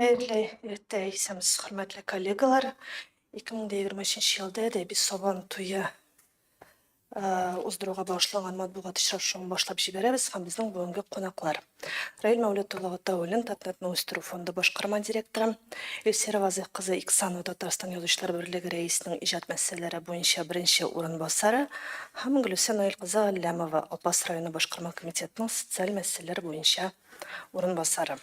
Хәерле иртә исәмс, хөрмәтле коллегалар. 2023 елда әдәби сабан туе уздыруга багышланган матбугат очрашуын башлап җибәрәбез һәм безнең бүгенге кунаклар. Раил Мәүлет улы Гатауллин, Татнетны үстерү фонды башкарма директоры, Илсира Вазыйх кызы Иксанова, Татарстан Язучылар берлеге рәисенең иҗат мәсьәләләре буенча беренче урынбасары, һәм Гөлүсә Наил кызы Галләмова, Апас районы башкарма комитетының социаль мәсьәләләр буенча урынбасары.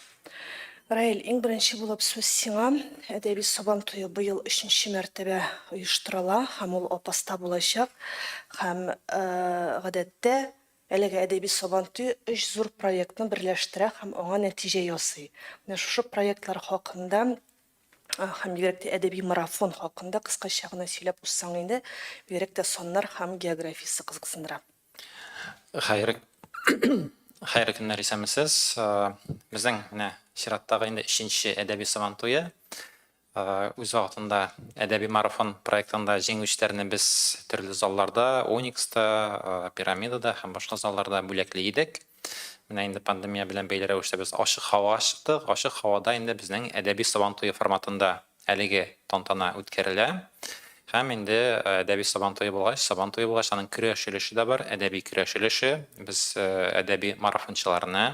Раил, иң беренче булып сүз сиңа. Әдәби Сабан туе быел өченче мәртәбә оештырыла һәм ул Апаста булачак. Һәм, гадәттә, әлеге Әдәби Сабан туе өч зур проектны берләштерә һәм аңа нәтиҗә ясый. Менә шушы проектлар хакында һәм бигрәк тә әдәби марафон хакында кыскача гына сөйләп узсаң инде, бигрәк тә саннар һәм географиясе кызыксындыра. Хәер, хәерле көннәр, исәнмесез. Безнең менә чираттагы инде өченче әдәби Сабантуе. Үз вакытында әдәби марафон проектында җиңүчеләрне без төрле залларда, Оникста, Пирамидада һәм башка залларда бүләкли идек. Менә инде пандемия белән бәйле рәвештә без ачык һавага чыктык. Ачык һавада инде безнең әдәби Сабан туе форматында әлеге тантана үткәрелә. Һәм инде әдәби Сабан туе булгач, Сабан туе булгач, аның көрәш өлеше дә бар, әдәби көрәш өлеше. Без әдәби марафончыларны,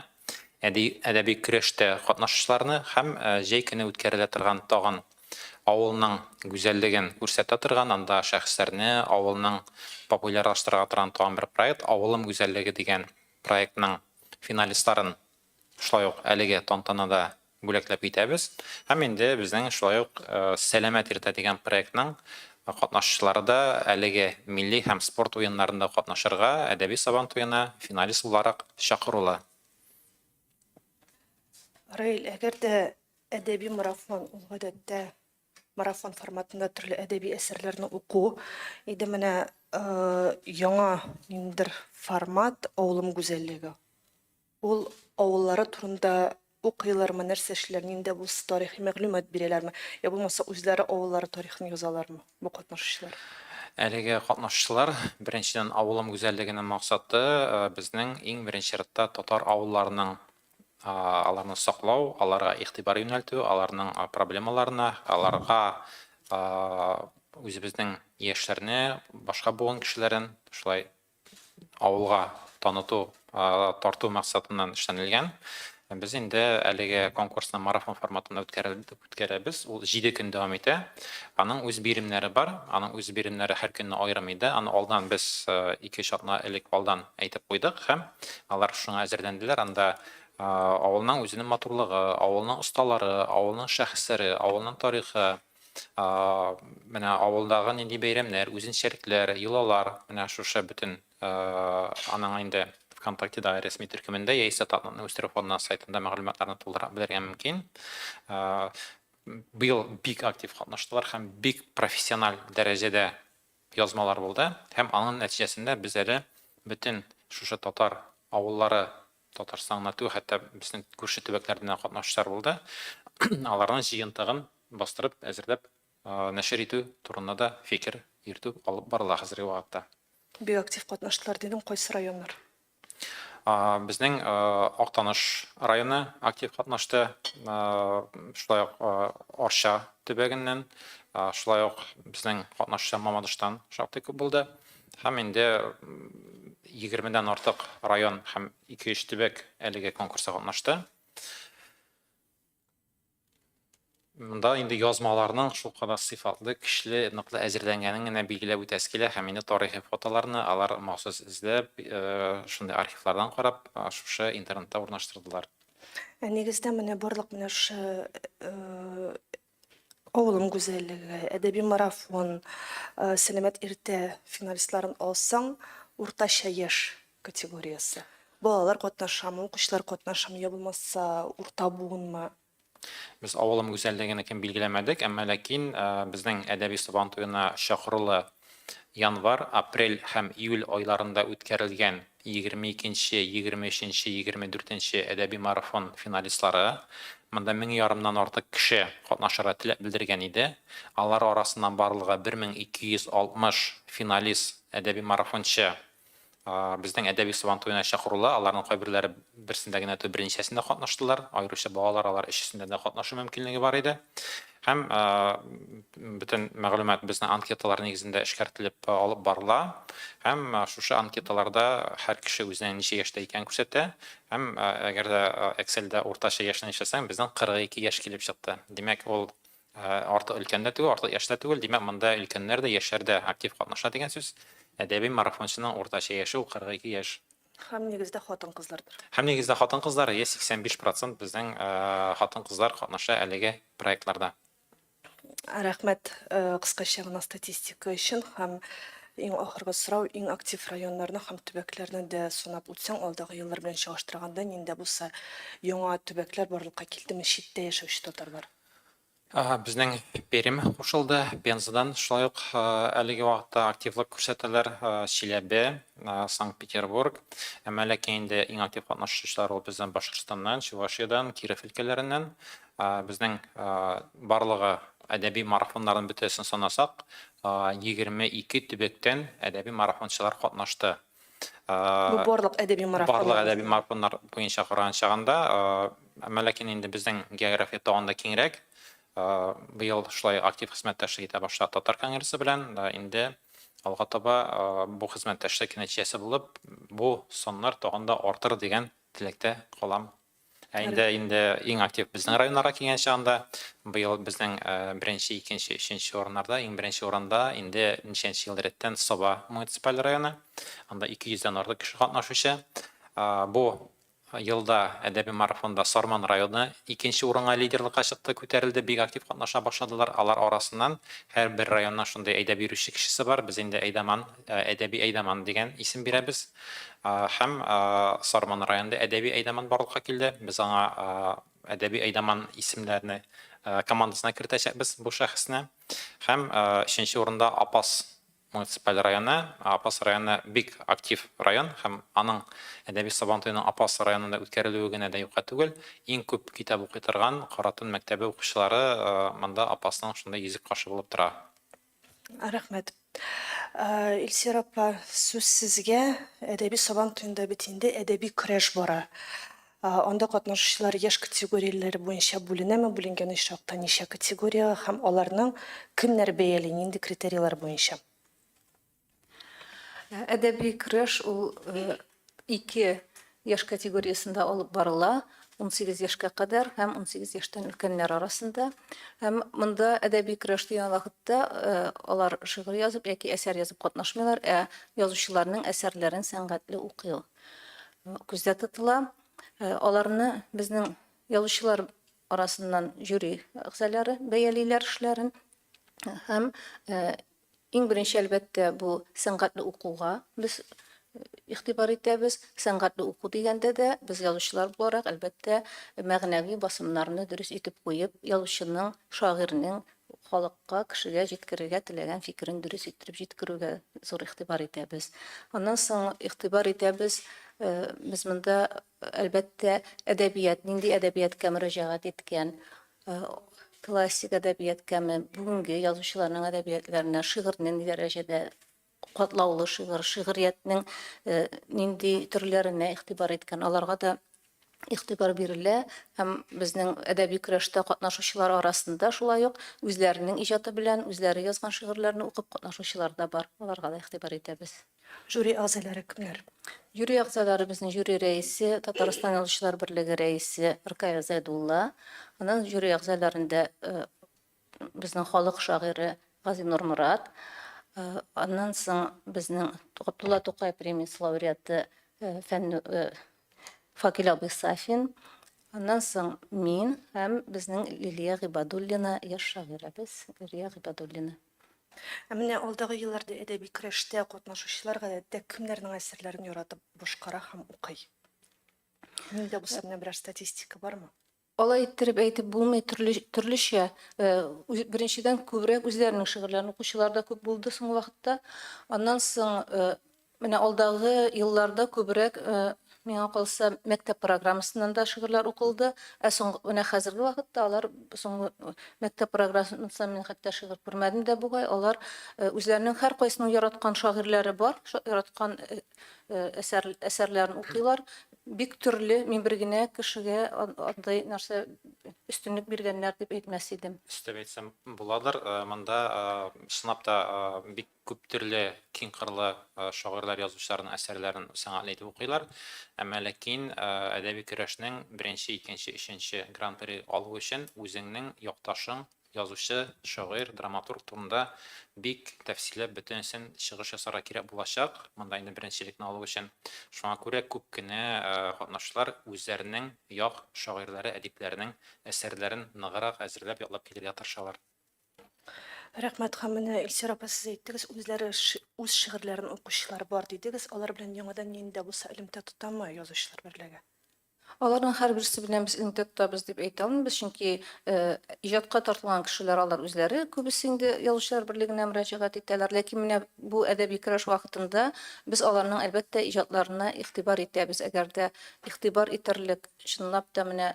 әдәби көрәштә катнашучыларны һәм җәй көне үткәрелә торган тагын авылның гүзәллеген күрсәтә торган, анда шәхесләрне авылның популярлаштырырга торган тагын бер проект, Авылым гүзәллеге дигән проектның финалистларын шулай ук әлеге тантанада бүләкләп китәбез. Һәм инде безнең шулай ук Сәламәт иртә дигән проектның катнашучылары да әлеге милли һәм спорт уеннарында катнашырга Әдәби Сабан туена финалист буларак чакырулы. Раил, әгәр дә Әдәби марафон, ул гадәттә марафон форматында төрле әдәби әсәрләрне уку иде. Менә яңа ниндидер формат Авылым гүзәллеге. Ул авыллары турында укыйлармы, нәрсә эшләр, ниндә булса тарихи мәгълүмат бирәләрме, я булмаса үзләре авыллары тарихын язалармы бу катнашучылар? Әлеге катнашучылар беренчедән авылым гүзәллегенең максаты безнең иң беренче рәттә татар авылларының аларны саклау, аларга игътибар юнәлтү, аларның проблемаларына, аларга үзебезнең яшьләрне, башка буын кешеләрен шулай авылга таныту, тарту максатыннан эшләнелгән. Без инде әлеге конкурсны марафон форматында үткәрәбез. Ул 7 көн дәвам итә. Аның үз биремнәре бар. Аның үз биремнәре һәр көнне аерым иде. Аны алдан без 2-3 атна элек алдан әйтеп куйдык һәм Алар шуңа әзерләнделәр, анда авылның үзенең матурлыгы, авылның осталары, авылның шәхесләре, авылның тарихы, менә авылдагы нинди бәйрәмнәр, үзенчәлекләр, йолалар, менә шушы бөтен аның инде ВКонтактедагы рәсми төркемендә яисә Татнетны үстерү фонды сайтында мәгълүматларны тулырак белергә мөмкин. Быел бик актив катнаштылар һәм бик профессиональ дәрәҗәдә язмалар булды һәм аның нәтиҗәсендә без әле бөтен шушы татар авыллары Татарстан гына түгел, хәтта безнең күрше төбәкләрдән дә катнашучылар булды, аларның җыентыгын бастырып әзерләп нәшер итү турында да фикер йөртү алып барыла хәзерге вакытта. Бик актив катнаштылар дидең, кайсы районнар? Безнең Актаныш районы актив катнашты. Шулай ук Арча төбәгеннән, шулай ук безнең катнашчы Мамадыштан шактый күп булды. Һәм инде 20 дән артык район һәм 2-3 төбәк әлеге конкурста катнашты. Монда инде язмаларның шулкадәр сыйфатлы, көчле, ныклы әзерләнгәнен генә билгеләп үтәсе килә һәм инде тарихи фотоларны алар махсус эзләп, шундый архивлардан карап, шушы интернетта урнаштырдылар. Нигездә менә барлык менә шушы Авылым гүзәллеге, әдәби марафон, Сәламәт иртә финалистларын алсаң, уртача яшь категориясе. Балалар катнашамы, укучылар катнашамы, я булмаса урта буынмы? Без авылым гүзәллегене кем билгеләмәдек, әмма ләкин безнең әдәби Сабан туена чакырулы январь, апрель һәм июль айларында үткәрелгән 22 нче, 23 нче, 24 нче әдәби марафон финалистлары, монда мең ярымнан артык кеше катнашырга теләк белдергән иде. Алар арасыннан барлыгы 1260 финалист, әдәби марафончы Безнең әдәби сабантуена чакырулар, аларның кайберләре берсендә генә түгел, берничәсендә катнаштылар. Аеруча балалар алар өчесендә дә катнашу мөмкинлеге бар иде. Һәм бөтен мәгълүмат безнең анкеталар нигезендә эшкәртелеп алып барыла. Һәм шушы анкеталарда һәр кеше үзенең ничә яшьтә икәнен күрсәтә. Һәм әгәр дә Excel-дә уртача яшьне эшләсәң, безнең 42 яшь килеп чыкты. Димәк, ул Артык өлкән дә түгел, артык яшь тә түгел, димәк, монда өлкәннәр дә, яшьләр дә актив катнаша дигән сүз. Әдәби марафончының уртача яше ул 42 яшь. Һәм нигездә хатын-кызлардыр. Һәм нигездә хатын-кызлар, йә 85 процент безнең хатын-кызлар катнаша әлеге проектларда. Рәхмәт кыскача гына статистика өчен. Һәм иң ахыргы сорау, иң актив районнарны һәм төбәкләрне дә санап үтсәң, алдагы еллар белән чагыштырганда, нинди булса яңа төбәкләр барлыкка килдеме, читтә яшәүче татарлар? Безнең Пермь кушылды. Пензадан шулай ук әлеге вакытта активлык күрсәтәләр. Чиләбе, Санкт-Петербург. Әмма ләкин инде иң актив катнашучылар ул безнең Башкортстаннан, Чувашиядән, Киров өлкәләреннән. Безнең барлыгы әдәби марафоннарның бөтәсен санасак, 22 төбәктән әдәби марафончылар катнашты. Бу барлык әдәби марафоннар. Барлык әдәби марафоннар буенча караган чагында, әмма ләкин инде безнең география тагын да киңрәк. Быел шулай актив хезмәттәшлек итә башлады Татар конгрессы белән. Инде алга таба бу хезмәттәшлек нәтиҗәсе булып, бу саннар тагын да артыр дигән теләктә калам Ә инде инде иң актив безнең районнарга килгән чагында, быел безнең беренче, икенче, өченче урыннарда, иң беренче урында инде ничәнче ел рәттән Саба муниципаль районы. Анда 200 дән артык кеше катнашучы. Бу елда әдәби марафонда Сарман районы икенче урынга лидерлыкка чыкты, күтәрелде, бик актив катнаша башладылар. Алар арасыннан һәрбер районнан шундый әйдәп йөрүче кешесе бар. Без инде әйдаман Әдәби әйдаман дигән исем бирәбез. Һәм Сарман районында әдәби әйдаман барлыкка килде. Без аңа әдәби әйдаман исемнәрне командасына кертәчәкбез бу шәхесне. Һәм өченче урында Апас муниципаль районы. Апас районы бик актив район һәм аның әдәби Сабантуеның Апас районында үткәрелүе генә дә юкка түгел. Иң күп китап укый торган Каратун мәктәбе укучылары монда Апасның шундый йөзек кашы булып тора. Рәхмәт. Илсир апа, сүз сезгә. Әдәби Сабан туенда бит инде әдәби көрәш бара. Анда катнашучылар яшь категорияләре буенча бүленәме, бүленгән очракта ничә категориягә һәм аларны кемнәр бәяли, нинди критерийлар буенча? Әдәби көрәш ул ике яшь категориясендә алып барыла, унсигез яшькә кадәр һәм унсигез яшьтән өлкәннәр арасында. Һәм монда әдәби көрәш дигән вакытта э, алар шигырь язып яки әсәр язып катнашмыйлар, ә язучыларның әсәрләрен сәнгатьле укый күздә тотыла. Э, аларны безнең язучылар арасыннан жюри әгъзалары бәялиләр эшләрен һәм э, Иң беренче, әлбәттә, бу сәнгатьле укуга без игътибар итәбез. Сәнгатьле уку дигәндә дә, без язучылар буларак, әлбәттә, мәгънәви басымнарны дөрес итеп куеп, язучының, шагыйрьнең халыкка, кешегә җиткерергә теләгән фикерен дөрес иттереп җиткерүгә зур игътибар итәбез. Аннан соң игътибар итәбез, без монда Әлбәттә, әдәбият, нинди әдәбияткә мөрәҗәгать иткән, классик әдәбияткәме, бүгенге язучыларның әдәбиятләренә, шигырьне ни дәрәҗәдә катлаулы шигырь, шигъриятнең нинди төрләренә игътибар иткән, аларга да игътибар бирелә һәм безнең әдәби көрәштә катнашучылар арасында шулай ук үзләренең иҗаты белән үзләре язган шигырьләрне укып катнашучылар да бар, аларга да игътибар итәбез. Жюри әгъзалары кемнәр? Жюри әгъзалары безнең жюри рәисе, Татарстан Язучылар берлеге рәисе Ркая Зәйдулла. Аннан жюри әгъзаларында безнең халык шагыйре Газинур Морат. Аннан соң безнең Габдулла Тукай премиясе лауреаты фән Факил абый Сафин. Аннан соң мин һәм безнең Лилия Гыйбадуллина, яшь шагыйрәбез Лилия Гыйбадуллина. Ә менә алдагы елларда әдәби көрәштә катнашучылар гадәттә кемнәрнең әсәрләрен яратып башкара һәм укый? Мин дә бу сәбәпне берәр статистика бармы? Алай иттереп әйтеп булмый, төрле, төрлечә. Беренчедән, күбрәк үзләренең шигырьләрен укучылар да күп булды соңгы вакытта. Аннан соң Менә алдагы елларда күбрәк, миңа калса, мәктәп программасыннан да шигырьләр укылды. Ә соң, менә хәзерге вакытта алар соңгы мәктәп программасыннан мин хәтта шигырь күрмәдем дә бугай. Алар үзләренең һәркайсының яраткан шагыйрьләре бар, яраткан әсәр, әсәрләрен укыйлар. Бик төрле, мин бер генә кешегә андый нәрсә өстенлек биргәннәр дип әйтмәс идем. Өстәп әйтсәм буладыр, монда чынлап та бик Күптөрле киң кырлы шагыйрьләр, язучыларның әсәрләрен сәнгатьле итеп укыйлар. Әмма ләкин әдәби көрәшнең беренче, икенче, өченче гран-при алу өчен үзеңнең якташың, язучы, шагыйрь, драматург турында бик тәфсилләп бөтенесен чыгыш ясарга кирәк булачак, монда инде беренчелекне алу өчен. Шуңа күрә күп кенә катнашучылар үзләренең як шагыйрьләре, әдипләренең әсәрләрен ныграк әзерләп, ятлап килергә тырышалар. Рәхмәт һәм менә Илсир апа сез әйттегез, үзләре үз шигырьләрен укучылар бар дидегез. Алар белән яңадан нинди дә булса элемтә тотамы язучылар берлеге? Аларның һәрберсе белән без элемтә тотабыз дип әйтә алмыйбыз, чөнки иҗатка тартылган кешеләр алар үзләре күбесе инде язучылар берлегенә мөрәҗәгать итәләр. Ләкин менә бу әдәби көрәш вакытында без аларның, әлбәттә, иҗатларына игътибар итәбез. Әгәр дә игътибар итәрлек, чынлап та менә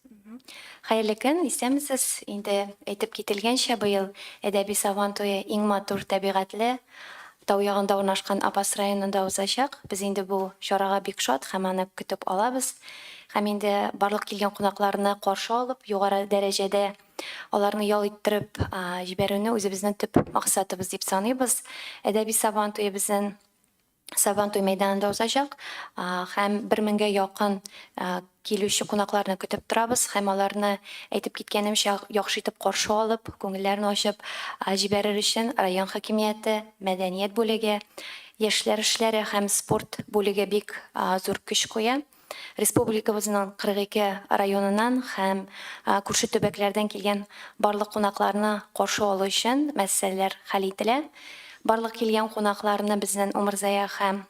Хәерле көн, исәнмесез! Инде әйтеп кителгәнчә, быел Әдәби Сабан туе иң матур, табигатьле, тау ягында урнашкан Апас районында узачак. Без инде бу чарага бик шат һәм аны көтеп алабыз. Һәм инде барлык килгән кунакларны каршы алып, югары дәрәҗәдә аларны ял иттереп җибәрүне үзебезнең төп максатыбыз дип саныйбыз. Әдәби Сабан туе безнен Сабантуй мәйданында узачак һәм бер меңгә якын килүче кунакларны көтеп торабыз һәм аларны, әйтеп киткәнемчә, яхшы итеп каршы алып, күңелләрен ачып җибәрер өчен район хакимияте, мәдәният бүлеге, яшьләр эшләре һәм спорт бүлеге бик зур көч куя. Республикабызның 42 районыннан һәм күрше төбәкләрдән килгән барлык кунакларны каршы алу өчен мәсьәләләр хәл ителә. Барлык килгән кунакларны безнен Умырзая һәм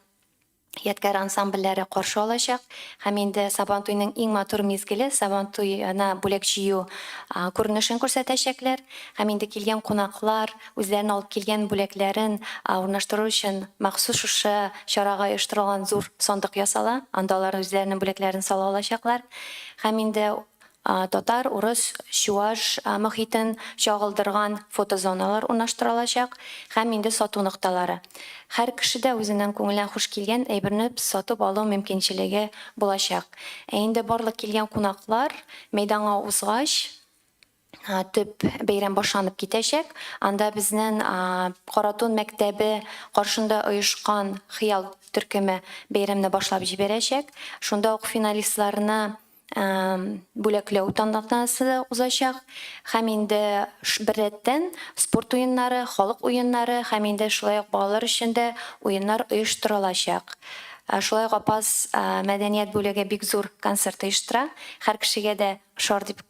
Ядкәр ансамбльләре каршы алачак һәм инде Сабантуйның иң матур мизгеле, Сабантуена бүләк җыю күренешен күрсәтәчәкләр һәм инде килгән кунаклар, үзләрен алып килгән бүләкләрен урнаштыру өчен махсус шушы чарага оештырылган зур сандык ясала, анда алар үзләренең бүләкләрен сала алачаклар һәм инде татар, урыс, чуаш мохитен чагылдырган фотозоналар урнаштырылачак һәм инде сату нокталары. Һәр кеше дә үзенең күңеленә хуш килгән әйберне сатып алу мөмкинчелеге булачак. Ә инде барлык килгән кунаклар мәйданга узгач, төп бәйрәм башланып китәчәк. Анда безнең Каратун мәктәбе каршында оешкан Хыял төркеме бәйрәмне башлап җибәрәчәк. Шунда ук финалистларны бүләкләү тантанасы да узачак. Һәм инде беррәттән спорт уеннары, халык уеннары һәм инде шулай ук балалар өчен дә уеннар оештырылачак. Шулай ук Апас мәдәният бүлеге бик зур концерт оештыра. Һәр кешегә дә ошар дип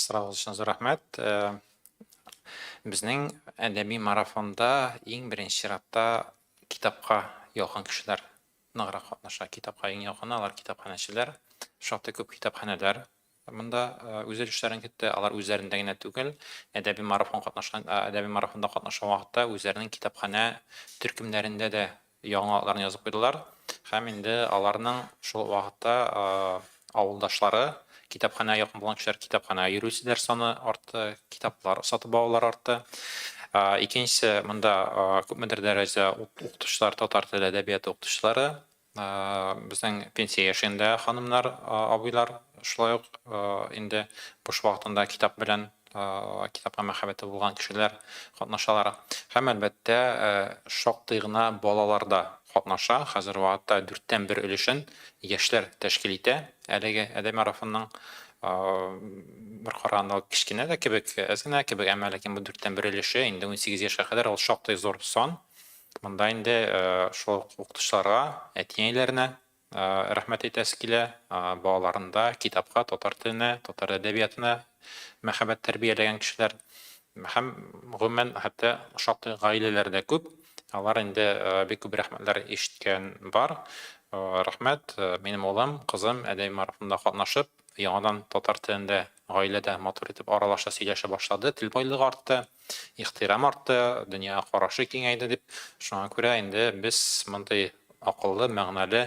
Сорау өчен зур рәхмәт. Безнең әдәби марафонда иң беренче чиратта китапка якын кешеләр ныграк катнаша. Китапка иң якыны алар китапханәчеләр. Шактый күп китапханәләр монда үз өлешләрен кертте. Алар үзләрендә генә түгел, әдәби марафон катнашкан, әдәби марафонда катнашкан вакытта үзләренең китапханә төркемнәрендә дә яңа атларны язып куйдылар һәм инде аларның шул вакытта авылдашлары, китапханәгә якын булган кешеләр китапханәгә йөрүчеләр саны артты, китаплар сатып алулар артты. Икенчесе, монда күпмедер дәрәҗә укытучылар, татар теле әдәбияты укытучылары, безнең пенсия яшендә ханымнар, абыйлар шулай ук инде буш вакытында китап белән китапка мәхәббәте булган кешеләр катнашалар һәм, әлбәттә, шактый гына балалар да катнаша. Хәзер вакытта дүрттән бер өлешен яшьләр тәшкил итә. Әлеге әдәби марафонның бер караганда ул кечкенә дә кебек, әз генә кебек, әмма ләкин бу дүрттән бер өлеше инде унсигез яшькә кадәр ул шактый зур сан. Монда инде шул ук укытучыларга, әти-әниләренә, рәхмәт әйтәсе килә, балаларында китапка, татар теленә, татар әдәбиятына мәхәббәт тәрбияләгән кешеләр һәм гомумән хәтта шактый гаиләләр дә күп. Алар инде бик күп рәхмәтләр ишеткән бар. Рәхмәт, минем улым, кызым әдәби марафонда катнашып, яңадан татар телендә Гаилә дә матур итеп аралаша, сөйләшә башлады, тел байлыгы артты, ихтирам артты, дөньяга карашы киңәйде дип. Шуңа күрә инде без мондый акыллы, мәгънәле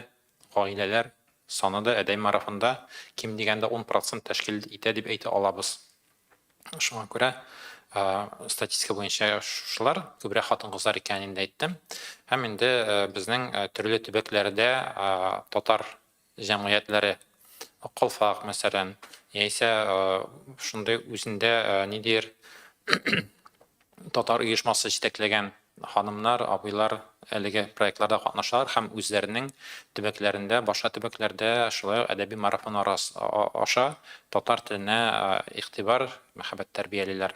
гаиләләр саны да Әдәй марафонда ким дигәндә ун процент тәшкил итә дип әйтә алабыз. Шуңа күрә статистика буенча шушылар, күбрәк хатын-кызлар икәнен инде әйттем. Һәм инде безнең төрле төбәкләрдә татар җәмгыятьләре, калфак, мәсәлән, яисә шундый үзендә ниндидер татар оешмасы җитәкләгән ханымнар, абыйлар әлеге проектларда катнашалар һәм үзләренең төбәкләрендә, башка төбәкләрдә шулай ук әдәби марафоннар аша татар теленә игътибар, мәхәббәт тәрбиялиләр.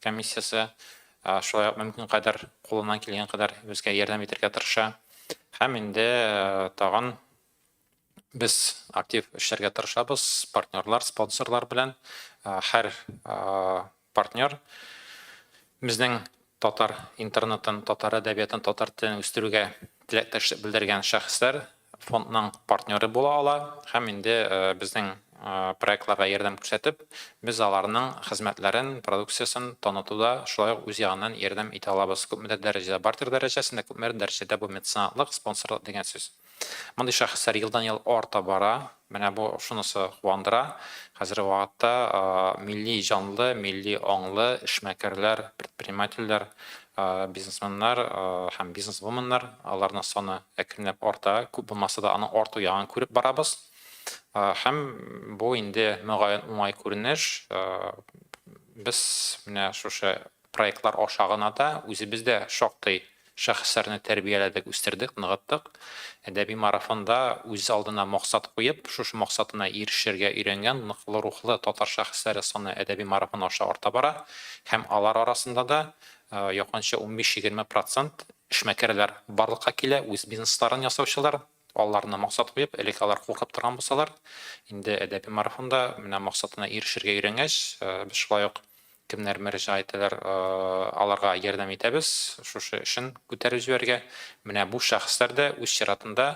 комиссиясе шулай ук мөмкин кадәр кулыннан килгән кадәр безгә ярдәм итәргә тырыша. Һәм инде тагын без актив эшләргә тырышабыз партнерлар, спонсорлар белән. Һәр партнер безнең татар интернетын, татар әдәбиятын, татар телен үстерүгә теләктәшлек белдергән шәхесләр. фондның партнеры була ала һәм инде безнең проектларга ярдәм күрсәтеп, без аларның хезмәтләрен, продукциясен танытуда шулай ук үз ягыннан ярдәм итә алабыз. Күпмедер дәрәҗәдә бартер дәрәҗәсендә, күпмедер дәрәҗәдә бу меценатлык, спонсорлык дигән сүз. Мондый шәхесләр елдан-ел арта бара. Менә бу шунысы куандыра, хәзерге вакытта милли җанлы, милли аңлы эшмәкәрләр, предпринимательләр, бизнесменнар һәм бизнесвуменнар, аларның саны әкренләп арта, күп булмаса да аның арту ягын күреп барабыз. Һәм бу инде мөгаен уңай күренеш. Без менә шушы Проектлар аша гына да үзебез дә шактый шәхесләрне тәрбияләдек, үстердек, ныгыттык. Әдәби марафонда үз алдына максат куеп, шушы максатына ирешергә өйрәнгән ныклы рухлы татар шәхесләре саны әдәби марафон аша арта бара һәм алар арасында да якынча унбиш-егерме процент эшмәкәрләр барлыкка килә, үз бизнесларын ясаучылар. Балаларына максат куеп, элек алар куркып торган булсалар, инде әдәби марафонда менә максатына ирешергә өйрәнгәч, без шулай ук кемнәр мөрәҗәгать итәләр, аларга ярдәм итәбез шушы эшен күтәреп җибәрергә. Менә бу шәхесләр дә үз чиратында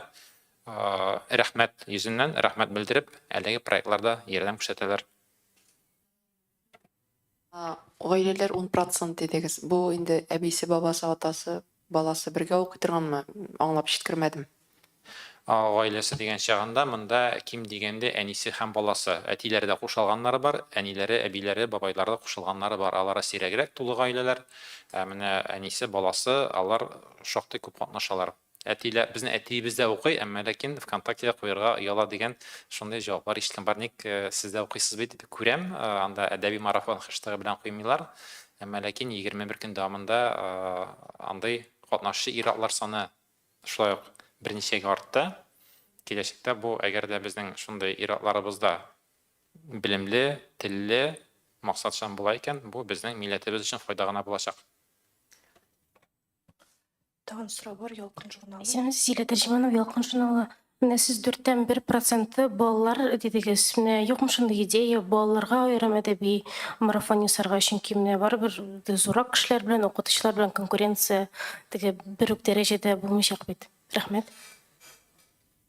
рәхмәт йөзеннән рәхмәт белдереп, әлеге проектларда ярдәм күрсәтәләр. Гаиләләр ун процент дидегез. Бу инде әбисе, бабасы, атасы, баласы бергә укый торганмы? Аңлап җиткермәдем. Гаиләсе дигән чагында монда ким дигәндә әнисе һәм баласы. Әтиләре дә кушалганнары бар, әниләре, әбиләре, бабайлары да кушылганнары бар. Алары сирәгрәк тулы гаиләләр. Ә менә әнисе, баласы, алар шактый күп катнашалар. Әтилә, безнең әтиебез дә укый, әмма ләкин ВКонтактеда куярга ояла дигән шундый җаваплар ишеткән бар. Ник сез дә укыйсыз бит, күрәм, анда әдәби марафон хэштегы белән куймыйлар. Әмма ләкин 21 көн дәвамында андый катнашчы ир-атлар саны шулай ук берничәгә артты. Киләчәктә бу, әгәр дә безнең шундый ир-атларыбыз да белемле, телле, максатчан була икән, бу безнең милләтебез өчен файда гына булачак. Тагын сорау бар, Ялкын журналы. Исәнмесез, Зилә Тәрҗеманова, Ялкын журналы. Менә сез дүрттән бер проценты балалар дидегез. Менә юкмы шундый идея балаларга аерым әдәби марафон ясарга, чөнки менә барыбер зуррак кешеләр белән, укытучылар белән конкуренция теге бер үк дәрәҗәдә булмыйчак бит. Рәхмәт.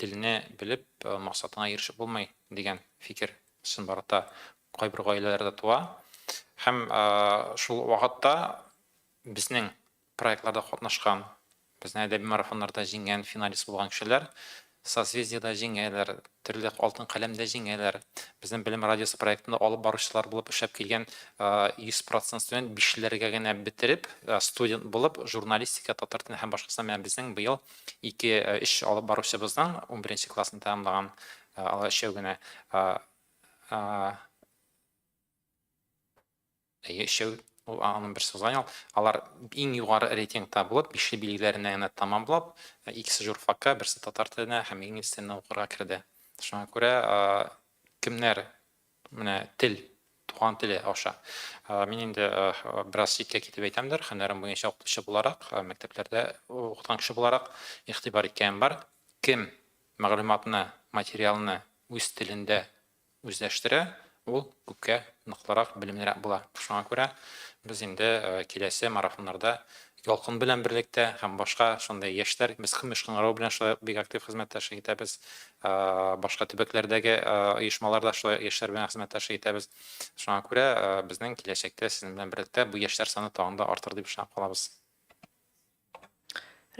Телне белеп максатыңа ирешеп булмый, дигән фикер чынбарлыкта кайбер гаиләләрдә туа. Һәм шул вакытта безнең проектларда катнашкан, безнең әдәби марафоннарда җиңгән, финалист булган кешеләр Созвездиеда җиңәләр, төрле Алтын каләмдә җиңәләр. Безнең Белем радиосы проектында алып баручылар булып эшләп килгән 100% студент бишләргә генә бетереп, студент булып журналистика, татар теле һәм башкасына менә безнең быел ике өч алып баручыбыздан унберенче классны тәмамлаган алар өчәү генә әйе өчәү ул аның берсе узган ел алар иң югары рейтингта булып бишле билгеләренә генә тәмамлап икесе журфакка берсе татар теленә һәм инглиз теленә укырга керде шуңа күрә кемнәр Менә тел, туган теле аша. Мин инде бераз читкә китеп әйтәмдер, хәнәрем буенча укытучы буларак, мәктәпләрдә укыткан кеше буларак игътибар иткәнем бар. Кем мәгълүматны, материалны үз телендә үзләштерә, ул күпкә ныклырак, белемлерәк була. Шуңа күрә без инде киләсе марафоннарда Ялкын белән берлектә һәм башка шундый яшьләр, без Кыми Шкыңгырау белән шулай ук бик актив хезмәттәшлек итәбез. Башка төбәкләрдәге оешмалар да шулай яшьләр белән хезмәттәшлек итәбез. Шуңа күрә безнең киләчәктә сезнең белән берлектә бу яшьләр саны тагын да артыр дип ышанып калабыз.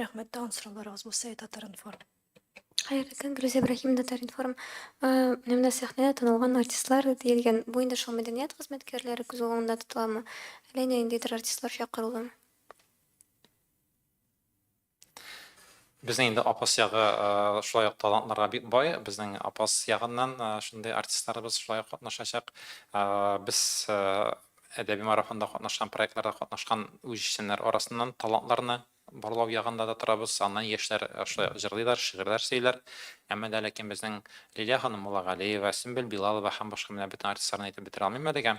Рәхмәт, тагын сорауларыгыз булса, Ай Татар-информ. Хәерле көн, Гөлүзә Ибраһимовна, Татар-информ. Э, Менә менә сәхнәдә танылган артистлар диелгән. Бу инде шул мәдәният хезмәткәрләре күз уңында тотыламы? Әллә инде ниндидер артистлар чакырылдымы? Безнең инде Апас ягы э, шулай ук талантларга бик бай. Безнең Апас ягыннан э, шундый артистларыбыз шулай ук катнашачак. Э, Без э, әдәби марафонда катнашкан, проектларда катнашкан үзешчәннәр арасыннан талантларны Барлау ягында да торабыз, аны яшьләр шулай ук җырлыйлар, шигырьләр сөйлиләр. Әмма дә ләкин безнең Лилия ханым Муллагалиева, Сөмбел Билалова һәм башка менә бөтен артистларны әйтеп бетерә алмыйм әлегә.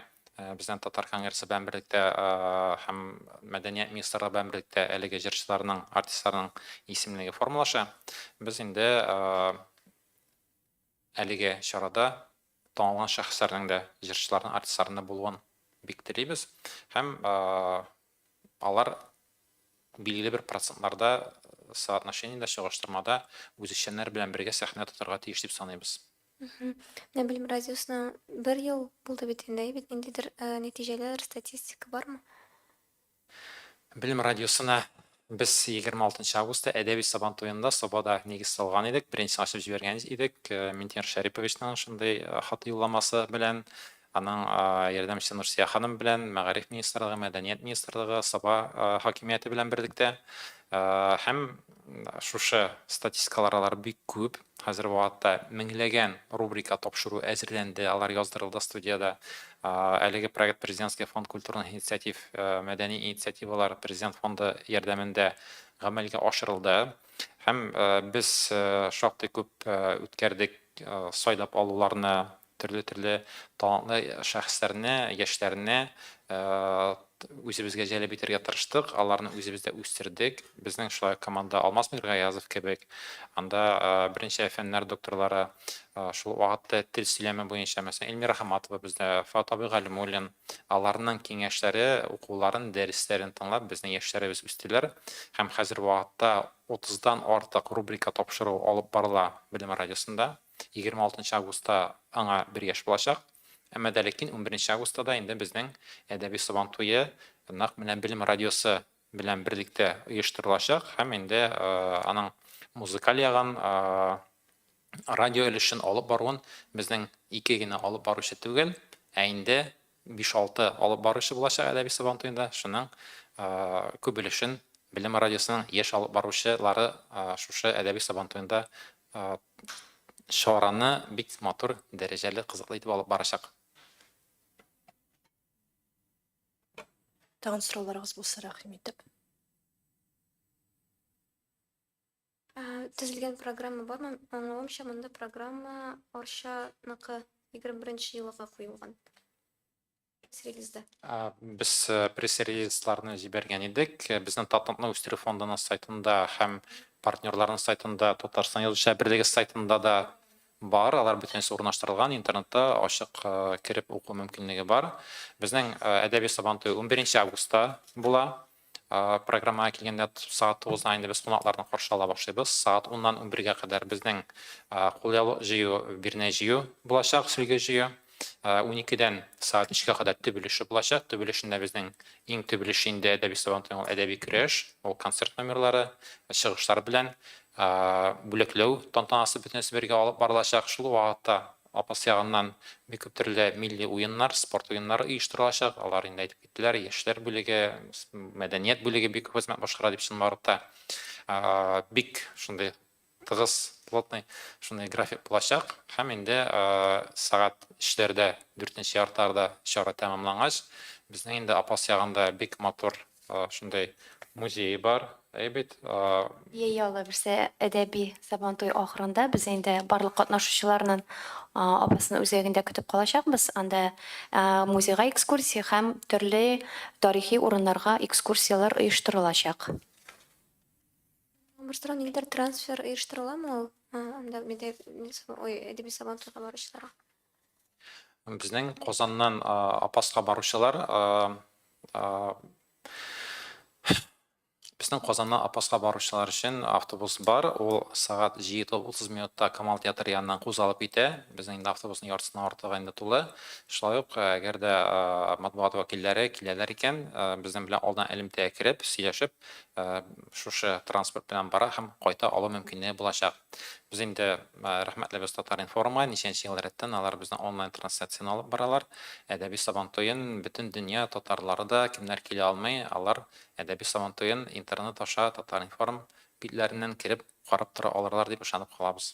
Безнең Татар конгрессы белән берлектә һәм Мәдәният министрлыгы белән берлектә әлеге җырчыларның, артистларның исемлеге формалаша. Без инде Әлеге чарада танылган шәхесләрнең дә, җырчыларның, артистларның да булуын бик телибез һәм алар билгеле бер процентларда соотношениедә, чагыштырмада үзешчәннәр белән бергә сәхнә тотарга тиеш дип саныйбыз. Менә Белем радиосына бер ел булды бит инде, әйбит. Ниндидер нәтиҗәләр, статистика бармы? Белем радиосына без егерме алтынчы августта әдәби Сабан туенда Сабада нигез салган идек. Беренчесен ачып җибәргән идек. Минтимер Шәриповичның шундый хат юлламасы белән, аның ярдәмчесе Нурсия ханым белән, Мәгариф министрлыгы, Мәдәният министрлыгы, Саба хакимияте белән берлектә һәм Шушы статистикалар алар бик күп. Хәзер вакытта меңләгән рубрика тапшыру әзерләнде, алар яздырылды студиядә. Әлеге проект Президентский фонд культурных инициатив, мәдәни инициативалар Президент фонды ярдәмендә гамәлгә ашырылды. Һәм без шактый күп үткәрдек сайлап алуларны. төрле-төрле талантлы шәхесләрне, яшьләрне үзебезгә җәлеп итәргә тырыштык, аларны үзебездә үстердек. Безнең шулай команда Алмаз Миргаязов кебек, анда беренче фәннәр докторлары, шул вакытта тел сөйләме буенча, мәсәлән, Эльмира Хаматова бездә, Фат абый Галимуллин, аларның киңәшләре, укуларын, дәресләрен тыңлап, безнең яшьләребез үстеләр һәм хәзер вакытта 30 дан артык рубрика тапшыру алып барыла Белем радиосында. Егерме алтынчы августта аңа бер яшь булачак. Әмма дә ләкин унберенче августта да инде безнең әдәби Сабан туе нәкъ менә Белем радиосы белән берлектә оештырылачак һәм инде аның музыкаль ягын, радио өлешен алып баруын безнең ике генә алып баручы түгел, ә инде Биш-алты алып баручы булачак Әдәби Сабантуенда, шуның күп өлешен Белем радиосының яшь алып баручы лары шушы Әдәби Сабантуенда чараны бик матур, дәрәҗәле, кызыклы итеп алып барачак. Тагын сорауларыгыз булса, рәхим итеп. Ә, Төзелгән программа бармы? Аңлавымча, монда программа Арчаныкы 21 елыга куелган. Пресс-релизда. А, Без э, пресс-релизларны җибәргән идек. Э, Безнең Татныкны үстерү фондының сайтында һәм партнерларның сайтында, Татарстан Язучылар берлеге сайтында да бар. Алар бөтенесе урнаштырылган, интернетта ачык э, кереп уку мөмкинлеге бар. Безнең э, әдәби Сабантуй 11 августта була. Программага килгәндә, сәгать тугыздан инде без кунакларны каршы ала башлыйбыз. Сәгать уннан унбергә кадәр безнең кул җыю, бирнә җыю булачак, сөлге җыю. Уникедән сәгать өчкә кадәр төп өлеше булачак. Төп өлешендә безнең иң төп өлеше инде әдәби Сабантуйның ул әдәби көрәш, ул концерт номерлары, чыгышлар белән бүләкләү тантанасы бөтенесе бергә алып барылачак. Шул вакытта Апас ягыннан бик күп төрле милли уеннар, спорт уеннары оештырылачак. Алар инде әйтеп киттеләр, яшьләр бүлеге, мәдәният бүлеге бик күп хезмәт башкара дип чынбарлык та бик шундый тыгыз, плотный шундый график булачак. Һәм инде сәгать өчләрдә, дүртенче яртыларда чара тәмамлангач, безнең инде Апас ягында бик матур Шундай музее бар, әй бит. Яи алла бирсә, әдәби Сабантуй ахырында без инде барлык катнашучыларнын апасын үзәгендә көтеп калачакбыз. Анда музейга экскурсия һәм төрле тарихи урыннарга экскурсияләр оештырылачак. Башта ниндидер трансфер оештырыламы ул анда әдәби Сабантуйга баручыларга? Безнең Казаннан Апаска баручылар өчен автобус бар. Ул сәгать 7:30 минутта Камал театры яныннан кузгалып китә. Безнең инде автобусның яртысыннан артыгы инде тулы. Шулай ук, әгәр дә матбугат вәкилләре киләләр икән, безнең белән алдан элемтәгә кереп, сөйләшеп, шушы транспорт белән бара һәм кайта алу мөмкинлеге булачак. Без инде рәхмәтлебез Татар-информга, ничәнче ел рәттән алар безнең онлайн трансляцияне алып баралар. Әдәби Сабантуен бөтен дөнья татарлары да, кемнәр килә алмый, алар Әдәби Сабантуен интернет аша Татар-информ битләреннән кереп карап тора алырлар дип ышанып калабыз.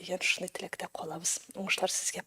дигән шундый теләктә калабыз уңышлар сезгә